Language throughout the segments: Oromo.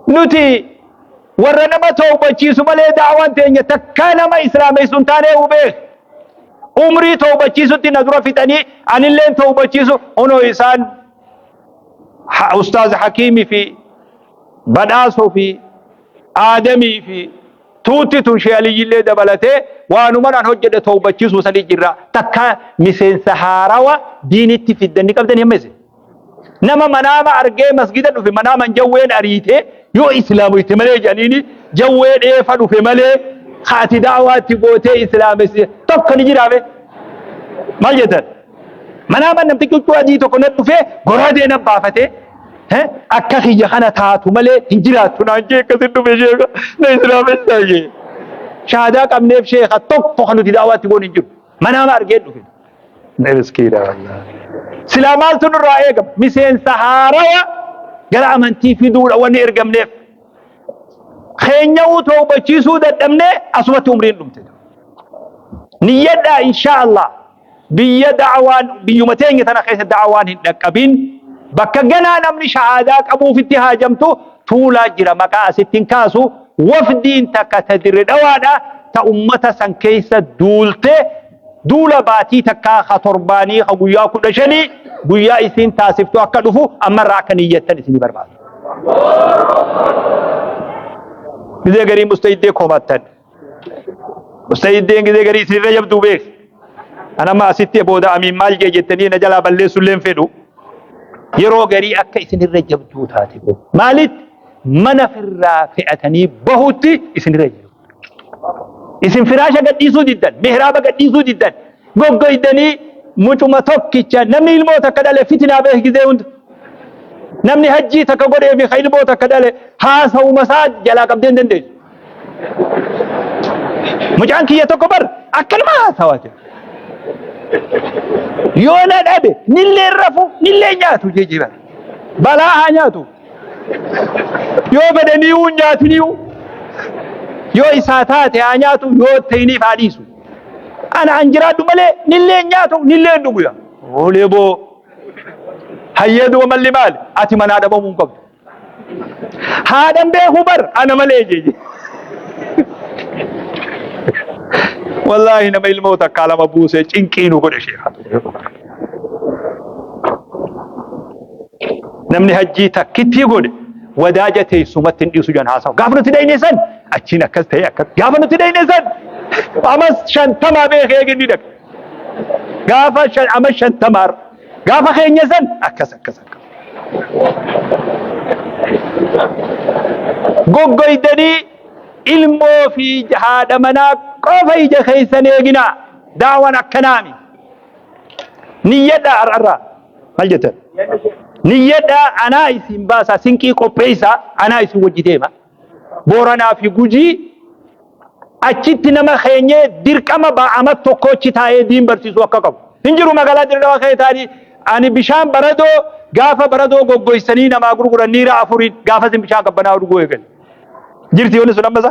Nuti warra nama tawbachiisu malee daawaan teenya takkaa nama islaameessu hin taanee hubee umrii tawbachiisutti na dura fixanii anilleen tawbachiisu hunoo isaan ha- ustaaz hakiimii fi badhaasoo fi aadamii fi tuutti tun shee aliyyillee dabalatee waanuman an hojjedhe tawbachiisuu sanii jirra takka miseensa haarawa diinitti fiddanni qabdan himmeesse Nama manaama argee masgida dhufe manaaman jawween ariitee yoo islaamoyte malee jedhaniini jawwee dheefa dhufe malee ka ati da'awaatti gootee islaamesse tokko ni jiraame maal jettan manaaman namtichi huccuu adii tokko na dhufee goraadee na baafatee akka kiyya kana taatu malee hin jiraattu naan jee akkasin dhufe sheeka na islaamessaa jee shahaadaa qabneef sheeka tokko kan nuti da'awaatti goon hin jiru manaama argee dhufe. Miskiina wallah. Silaa maaltu nurraa eegama? Miseensa haarawa gara amantii fiduudha wanni ergamneef. Keenya'uu toobachiisuu dadhabnee asumatti umriin dhumte. Niyyadhaa inshaa Allah biyya da'awaan biyyuma teenya tana keessa da'awaan hin dhaqqabin bakka ganaa namni shahaadaa qabuufitti haajamtu tuulaa jira maqaa asitti hin kaasu wafdiin takka ta dirre dhawaadha ta ummata san keessa duulte Duula baatii takkaa ka torbaanii ka guyyaa kudha shanii guyyaa isiin taasiftu akka dhufu amma irraa akka niyyattan isinii barbaada. Gizee garii mustahiddee komattan. Mustahiddeen gizee garii isinirra jabduu beek. An amma asitti booda amiin maal jee jettanii na jalaa balleessuu illee hin fedhu. Yeroo garii akka isinirra jabduu taate beek. Maalitti mana firraa fe'atanii bahutti isinirra jiru. Isin firaasha gadhiisuu diddan, mihraaba gadhiisuu diddan, goggoydanii mucuma tokkicha namni ilmoo takka dhale fitinaa beeki gizee hunda. Namni hajjii takka godhee fi ka ilmoo takka dhale haasawuma isaa jalaa qabdee hin dandeessu. Mucaan kiyya tokko bar akkanuma haasawaa jira. Yoo na dhabe nillee rafu nillee nyaatu jijjiiran. Balaa haa nyaatu. Yoo fedhanii uun nyaatiniiu yoo isaa taate haa nyaatu yoo ta'iniif haa dhiisu. Ana an jiraadhu malee nillee nyaatu nillee dhuguya. Oolee boo hayyee duba malli maali ati manaa dhabamuu hin qabdu. Haadhan beekuu bar ana malee jeeje. Wallaahi nama ilmoo takkaa lama buusee cinqii nu godhe sheekaa. namni hajjii takkittii godhe wadaaja teessumatti hin dhiisu jedhan haasawa. Gaafa nuti dhayne san achiin akkas ta'e akkas gaafa nuti dhayne san amas shantamaa beekee eeginni dhaqa. Gaafa shan ama shantamaa gaafa keenya san akkas akkas akkas. Goggoydanii ilmoo fi haadha manaa qofa ija keessan eeginaa daawwan akkanaami. Niyyadhaa har'arraa maal jettan? Niyyadhaa anaa isin baasaa sinqii qopheessaa anaa isin wajji deema. Booranaa fi Gujii achitti nama keenyee dirqama ba'ama tokkochi taa'ee diin barsiisuu akka qabu. Hin jiru magaalaa dirrewaa kee taa'anii ani bishaan baradoo gaafa baradoo goggoysanii namaa gurguran niira afuriin gaafa isin bishaan qabbanaa dhuguu eegale. Jirti yoonni sun ammasa?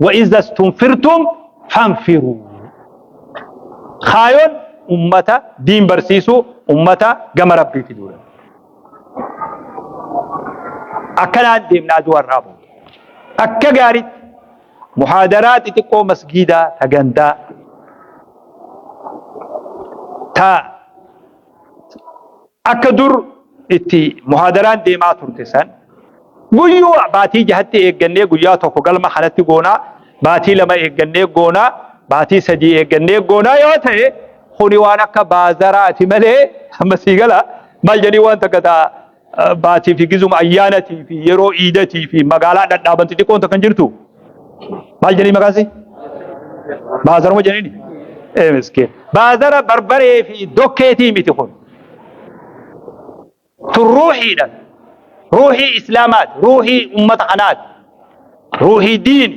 Wa iza stunfirtum fanfiruu. Kaayoon ummata diin barsiisuu ummata gama rabbiiti duula. Akkanaan deemna aduu har'aa booda. Akka gaariitti muhaadaraa xixiqqoo masgiidaa ta gandaa ta Akka dur itti muhaadaraan deemaa turte san guyyuu baatii jahatti eeggannee guyyaa tokko galma kanatti goonaa, baatii lama eeggannee goonaa, baatii sadii eeggannee goonaa yoo ta'e kuni waan akka baazaraati malee amma sii gala maal jedhanii waan takka ta'a baatii fi gizuma ayyaanatii fi yeroo iidatii fi magaalaa dhadhaaban xixiqqoon takka hin jirtu maal jedhanii maqaan si baazaruma jedhanii miskiin baazara barbaree fi dokkeetii miti kun tun ruuhiidha ruuhii islaamaati ruuhii ummata kanaati ruuhii diini